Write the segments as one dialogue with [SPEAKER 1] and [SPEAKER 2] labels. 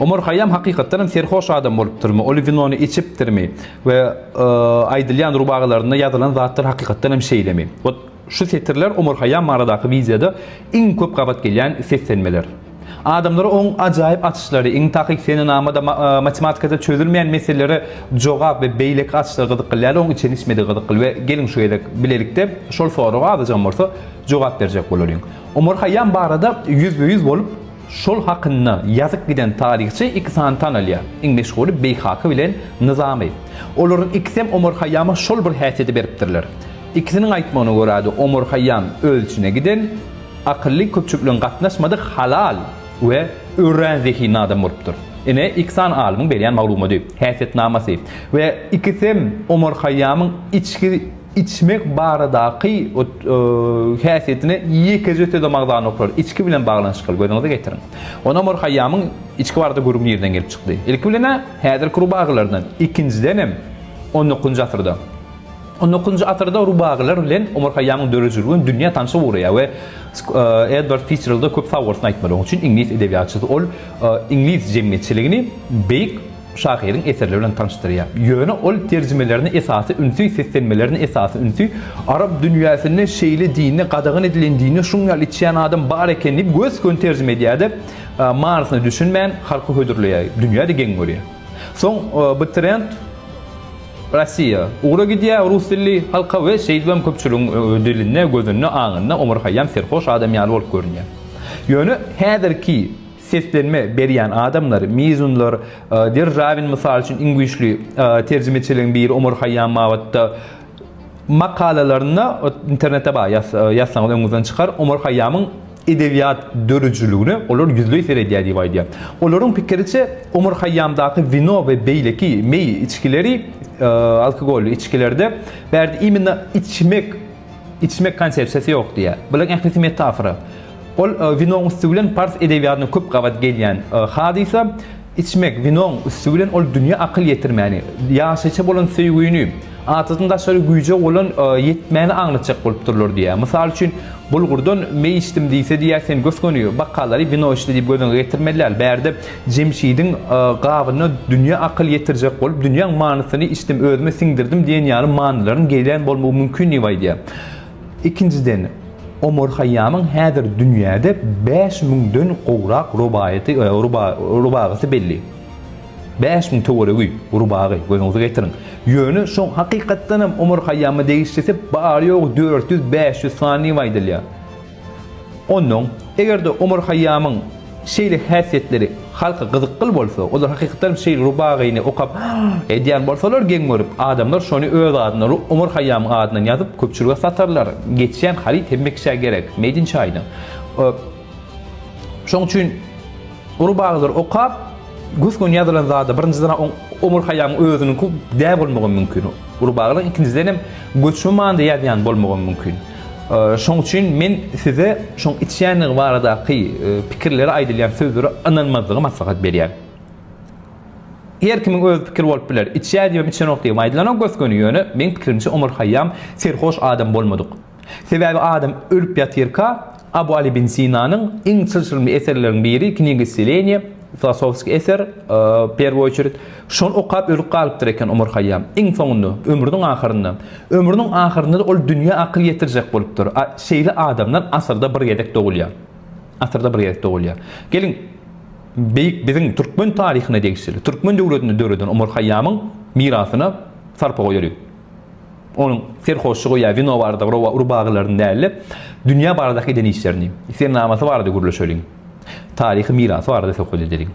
[SPEAKER 1] Omar Haýýam hakykatdan hem serhoş adam bolupdyrmy, uly winony içipdirmi we aýdylýan rubagalarynda ýazylan zatlar hakykatdan hem şeýlemi? Ot, şu setirler Omar Haýýam baradaky wideoda iň köp gabat gelýän seslenmeler. Adamlara oň ajaýyp açyşlary, iň takyk senenamada, matematikada çözülmeýän meselelere jogap we beýleki açyşlar gyzykly däl, oň içen-içmedigi gyzykly we geliň şu gezek bilelikde şol soraga azajygam bolsa jogap berjek bolalyň. Omar Haýýam barada ýüzbe-ýüz bolup, Şol hakynda ýazyp giden taryhçy iki sany tanalýar, iň meşhury Beýhaki bilen Nyzamy. Olaryň ikisem Omar Haýýama şol bir häsiýeti beripdirler. Ikisiniň aýtmagyna görä-de Omar Haýýam öz içine giden, akylly, köpçülik bilen gatnaşmadyk, halal we örän zehinli adam bolupdyr. Ine, iki sany alymyň berýän maglumady, häsiýetnamasy we ikisem Omar Haýýamyň içki. içmek baradaky häsiýetine ýekeje söz-ä magzany oklary, içgi bilen baglanyşykly, gözüňize getiriň. Onam Omar Haýýamyň içgi barada gürrüň nireden gelip çykdy? Ilki bilen-ä, häzirki rubagylardan, ikinjidenem, on dokuzynjy asyrda. On dokuzynjy asyrda rubagylar bilen Omar Haýýamyň döredijiliginiň dünýä tanşygy ugraýar we Edward Fitzjeralda köp sag bolsun aýtmaly. Onuň üçin iňlis edebiýatçysy ol iňlis jemgyýetçiligini beýik şahyryň eserleri bilen tanyşdyrýar. Ýöne ol terjimelerine esasy ünsi, seslenmelerine esasy ünsi arap dünýäsinde şeýle dinde, gadagan edilen dinde şuň ýaly içýän adam bar eken diýip gös-göni terjime edýär-de, manysyna düşünmän halka hödürleýär. Dünýä-de geň görýär. Soň bu trend Rossiýa ugra gidýär, rus dilli halka we şeýdip hem köpçüligiň dilinde, gözünde, aňynda Omar Haýýam serhoş adam ýaly bolup görünýär. Ýöne häzirki. Seslenme berýän adamlar, mizunlar, Der Rawin mysal üçin iň güýçli terjimeçileriň biri Omar Haýýam babatda makalalarynda internetde bar ýazsaňyz öňüňizden çykar, Omar Haýýamyň edebiýat dörüjiligine olar ýüzleý seredýär diýip aýdýar. Olaryň pikiriçe Omar Haýýamdaky wino we beýleki meý içgileri, alkogolly içgilerde bärde imенно içmek, Içmek konsepsiýasy ýok diýýär. Bularyň ählisi metafora. Ol winoň üsti bilen pars edebiýatyna köp gabat gelýän hadysa. Içmek winoň üsti bilen ol dünýä akyl ýetirmäni, ýaşaýşa bolan söýgüni, adadan daşary güýje bolan ýetmäni aňlatjak bolup durlar diýýär. Mysal üçin, bulgurdan meý içdim diýse diýýär, sen gös-göni bakgallary wino içdi diýip gözüňe getirmeli däl. Bärde Jemşidiň gabyna dünýä akyl ýetirjek bolup, dünýäň manysyny içdim, özüme siňdirdim diýen ýaly manylaryň gelýän bolmagy mümkin diýip aýdýar. Ikinjiden, Omar Haýýamyň häzir dünýäde bäş müňden gowrak rubaýaty, rubagasy belli. Bäş müň töweregi rubagy, gözüňize getiriň. Ýöne şoň hakykatdanam Omar Haýýama degişlisi bary-ýogy dört ýüz, bäş ýüz sany diýip aýdylýar. Onnoň, eger-de Omar Haýýamyň şeýle häsiýetleri halka gyzykgyl bolsa, olar hakykatdan hem şeýle rubagyny okap edýän bolsalar geň görüp, adamlar şony öz adyndan, Omar Haýýamyň adyndan ýazyp, köpçülige satarlar. Geçýän haryt hemme kişä gerek. Made in China. Şoň üçin rubagylary okap, gös-göni ýazylan zada birinjiden Omar Haýýamyň özüniňki dä bolmagy mümkin. Rubagylaryň ikinjiden hem göçme manyda ýazýan bolmagy mümkin. Şoň üçin men size şoň içýändigi baradaky pikirleri aýdylýan sözlere ynanmazlygy maslahat berýän. Her kimiň öz pikiri bolup biler. Içýär diýibem içenok diýibem aýdylanok gös-göni ýöne meň pikirimçe Omar Haýýam serhoş adam bolmadyk. Sebäbi adam ölüp ýatyrka Abu Aly bin Sinanyň iň çylşyrymly eserleriniň biri Kniga ysceleniýa, Filosofskiý eser, w pierwou oçered, şony okap ölüp galypdyr eken Omar Haýýam. Iň soňunda, ömrüniň ahyrynda. Ömrüniň ahyrynda-da ol dünýä akyl ýetirjek bolupdyr. A şeýle adamlar asyrda bir gezek dogulýar. Asyrda bir gezek dogulýar. Geliň, beýik biziň türkmen taryhyna degişli, türkmen döwletini döreden Omar Haýýamyň mirasyna sarpa goýalyň. Onuň serhoşlygy ýa wino barada rowa urbagylaryny däl-de, dünýä baradaky eden işlerini, sennamasy barada gürleşeliň. Taryhy mirasy barada söhbet edeliň.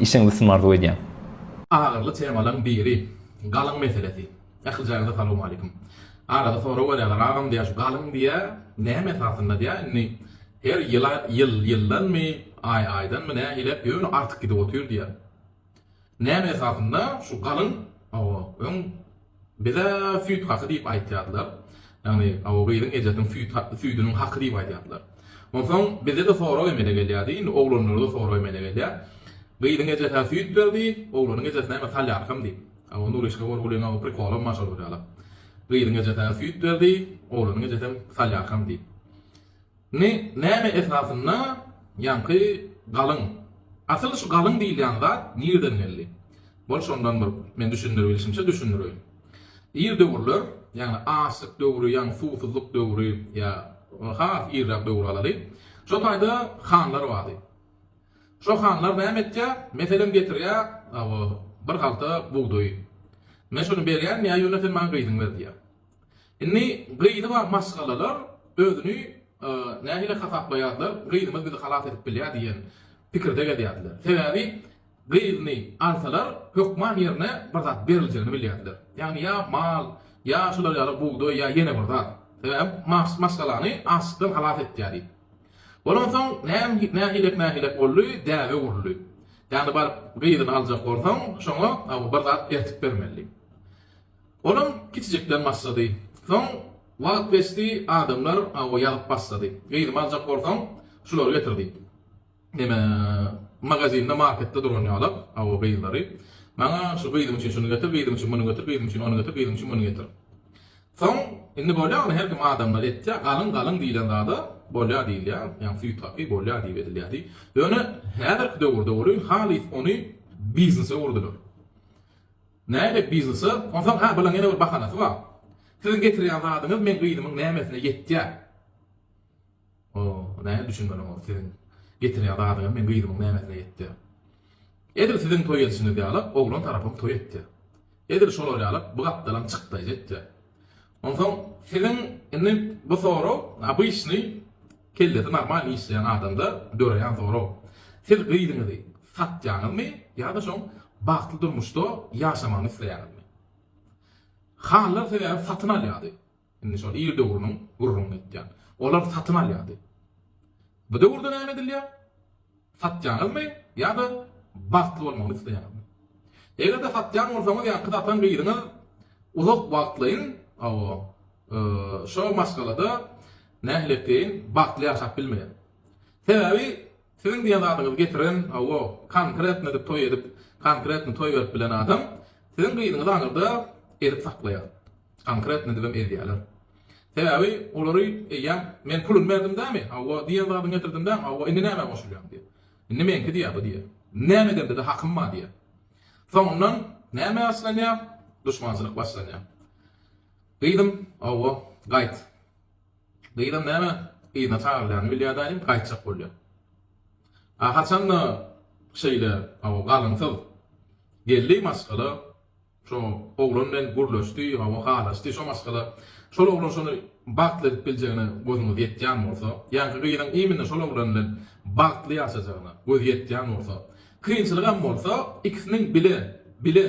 [SPEAKER 1] Işiňiz üstünlik arzuw edýän. Agyrly
[SPEAKER 2] temalaň biri, galyň meselesi. Ählijaňyza salowmaleýkim. Arada sorag berýärler, agam diýýär şu galyň diýýär, näme esasynda diýýär, indi her ýyla ýyl ýyldanmy, aý aýdanmy nähilep ýöne artyk gidip otyr diýýär. Näme esasynda şu galyň owo öň bize süýt haky diýip aýtýardylar. Ýagny owo gyzyň ejesiniň süýt haky süýdüniň haky diýip aýdýardylar. Onsoň bizede sorag emele gelýärdi, indi oglanlarda sorag emele gelýär. Gyzyň ejesi-ä süýt berdi, oglanyň ejesi näme salýarkam diýip. Owo Nuryşka Gorgulyň owo prikolam bar şol bir ýaly. Gyzyň ejesi-ä süýt berdi, oglanyň ejesem salýarkam diýip. Ni näme esasynda ýaňky galyň? Asyl şu galyň diýilýän zat nirden geldi? Bol şondan bir men düşündirbilişimçe düşündireýin. Ir döwürler, ýagny açlyk döwri, ýagny suwsuzlyk döwri ýa has irräk döwri alaly. Şo taýda hanlar bardy. Şo hanlar näme etýär? Meselem getirýär bir halta bugdaýy. Men şuny berýän, ýa ýöne sen maňa gyzyňy ber diýýär. Indi gyzy bar maşgalalar özüni nähili hasaplaýarlar, gyzymyz bizi halas edip bilýär diýen pikirde gezýärdiler. Sebäbi gyzyny alsalar hökman ýerine bir zat beriljegini bilýärdiler. Ýagny ýa mal, ýa şular ýaly bugdaý ýa ýene bir zat. Sebäbi maşgalany açlykdan halas etýär diýip. Bolansoň nähilek nähilek boldy, däbe guruldy. Ýagny baryp gyzyny aljak bolsaň, şoňa bir zat ertip bermeli. Olam kiçijikden başlady. Soň wagt geçdi, adamlar awa ýazyp başlady. Gyzymy aljak bolsaň, şulary getir diýip. Neme, magazinde, marketde duran ýalak, awa gyzlary. Maňa şu gyzym üçin şuny getir, gyzym üçin muny getir, gyzym üçin ony getir, gyzym üçin muny getir. Soň, indi bolýamy, her kim adamlar etýär, galyň, galyň diýlen zada bolýar diýilýär, ýagny süýt haky bolýar diýip edilýärdi. Ýöne häzirki döwürde welin halys ony biznese öwürdiler. Nädip biznesi? Onsoň ha bunuň ýene bir bahanasy bar. Siziň getirýän zadyňyz meň gyzymyň nämesine ýetýär. O, näme düşünmeli oňa, siziň getirýän zadyňyz meň gyzymyň nämesine ýetýär. Edil siziň toý edişiňiz ýaly oglan tarapym toý etýär. Edil şolar ýaly bu gapdalam çykdaýjy etýär. Onsoň siziň indi bu sorag obyçnyý kellesi normal işleýän adamda döreýän sorag. Siz gyzyňyzy satýaňyzmy ýa-da şoň bagtly durmuşda ýaşamagyny isleýäňizmi? Hanlar sebäbi satyn alýardy. Indi şol ir döwrüniň gürrüňini etýän. Olar satyn alýardy. Bu döwürde näme edilýär? Satýaňyzmy ýa-da bagtly bolmagyny isleýäňizmi? Eger-de satýan bolsaňyz ýaňky satan biriňiz uzak wagtlaýyn şo maşgalada nähiliýetleýin bagtly ýaşap bilmeýär. Sebäbi siziň diýen zadyňyzy getiren hawa konkretno edip toý edip konkretno toý berip bilen adam siziň gyzyňyzy aňyrda ezip saklaýar. Konkretno edibem ezýäler. Sebäbi olary eýýäm men puluny berdim dämi, hawa, diýen zadyňy getirdim dämi, hawa, indi nämä goşulýaň diýýär. Indi meňki diýýär bu diýýär. Näme edende-de hakym bar diýýär. Soňundan näme başlanýar? Duşmançylyk başlanýar. Gyzym, hawa, gaýt. Gyzam näme yzyna çagyrylýanyny bilýär daýym, gaýtjak bolýar. A haçan-da şeýle, hawa, galynsyz geldi maşgala, Şo oglan bilen gürleşdi, hawa halaşdy, şo maşgala. Şol oglan şony bagtly edip biljegine gözüňiz ýetýän bolsa, ýaňky gyzyň imine şol oglan bilen bagtly ýaşajagyna gözi ýetýän bolsa, kynçylygam bolsa, ikisiniň bile, bile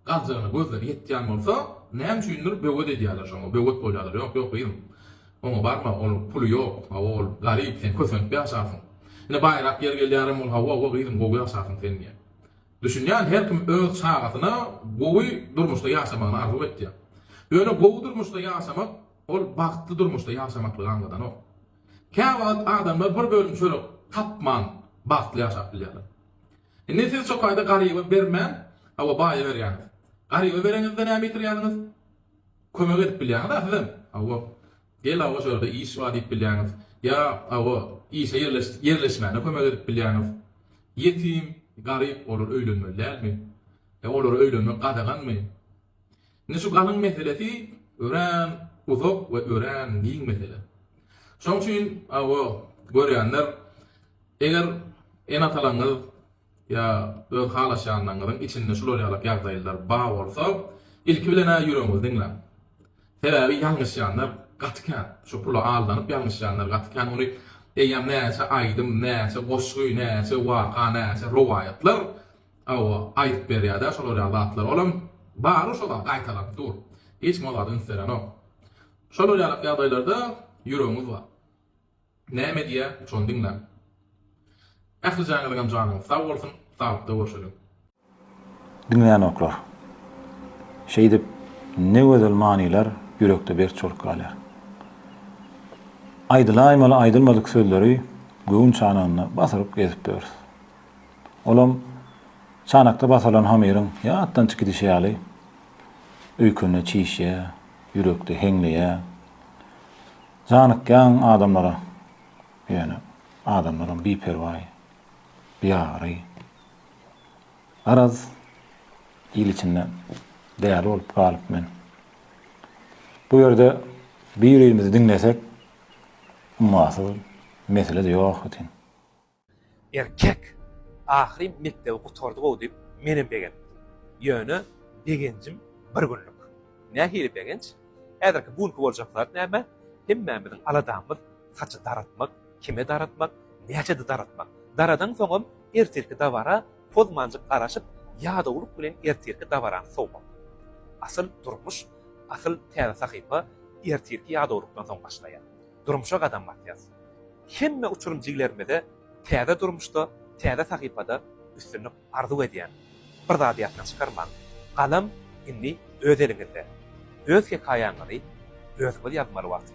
[SPEAKER 2] galjagyna gözleri ýetýän bolsa, näme üçindir böwet edýärler şoňa, böwet bolýarlar, ýok, ýok gyzym, oňa barma, onuň puly ýok, hawa ol garyp, sen kösenip ýaşarsyň. Ine baýrak ýeri gelýärem ol, hawa, hawa gyzym, gowy ýaşarsyň sen diýýär. Düşünýän her kim öz çagasyna gowy durmuşda ýaşamagyny arzuw etýär. Ýöne gowy durmuşda ýaşamak ol bagtly durmuşda ýaşamaklygy aňladanok. Käwagt adamlar bir bölüm çörek tapman bagtly ýaşap bilýärler. Indi siz çokaýda garyba bermän, hawa baýa berýäňiz. Garyba bereňizde näme ýitirýäňiz? Kömek edip bilýäňiz-ä sizem. Hawa. Gel awa şorada iş bar diýip bilýäňiz. Ýa awa işe ýerleşmäne kömek edip bilýäňiz. Ýetim, garyp olar öýlenmeli dälmi? E olara öýlenmek gadaganmy? Indi şu galyň meselesi örän uzak we örän giň mesele. Şoň üçin awa görýänler eger ene-atalaňyz, ýa öz halaşýanlaryňyzyň içinde şular ýalak ýagdaýlar bar bolsa, ilki bilen-ä ýüregiňizi diňläň. Sebäbi ýalňyşýanlar gaty kän. Şu pula aldanyp ýalňyşýanlar gaty kän. Ony eýýäm näçe aýdym, näçe goşgy, näçe waka, näçe rowaýatlar, hawa, aýdyp berýär-dä şolar ýaly zatlary. Olam bar-a şo zat, gaýtalanyp dur. Hiç kim o zada üns berenok. Şolar ýalak ýagdaýlarda ýüregiňiz bar. Näme diýýä, şony diňläň. Ähli jaňyzyňam janyňyz sag bolsun, saglykda görşeliň.
[SPEAKER 3] Diňlänoklar. Şeýdip, ne gözel manylar ýürekde berk çolup galýar. Aýdylaýmaly aýdylmadyk sözleri göwün çanagynda basyryp gezip börs. Olam, çanakda basyrylan hamyryň ýatdan çykidişi ýaly, öýkende çişýär, ýürekde heňleýär. Janykýaň adamlara, ýöne adamlaram biperwaý, biagyry. Garaz, il içinde däli bolup galyp men. Bu ýerde bir-birimizi diňlesek, ummasyz mesele-de ýok wetin.
[SPEAKER 4] Erkek! Ahyryn mekdebi gutardy-ow diýip, menem begendim. Ýöne begenjim bir günlük. Nähili begenç? Häzirki bu günki boljak zat näme? Hemmämiziň aladamyz saçy daratmak, kime daratmak, näçede daratmak. Daradaňsoňam ertirki dabara pozmanjyk garaşyp, ýadawlyk bilen ertirki dabarany sowmak. Asyl durmuş, asyl täze sahypa ertirki ýadawlykdan soň başlaýar. durmuşa gadam basýas. Hemme uçurym jigilerimize täze durmuşda, täze sahypada üstünlik arzuw edýän. Bir zady ýatdan çykarmaň, galam indi öz eliňizde. Öz hekaýaňyzy özüňiz ýazmaly wagty.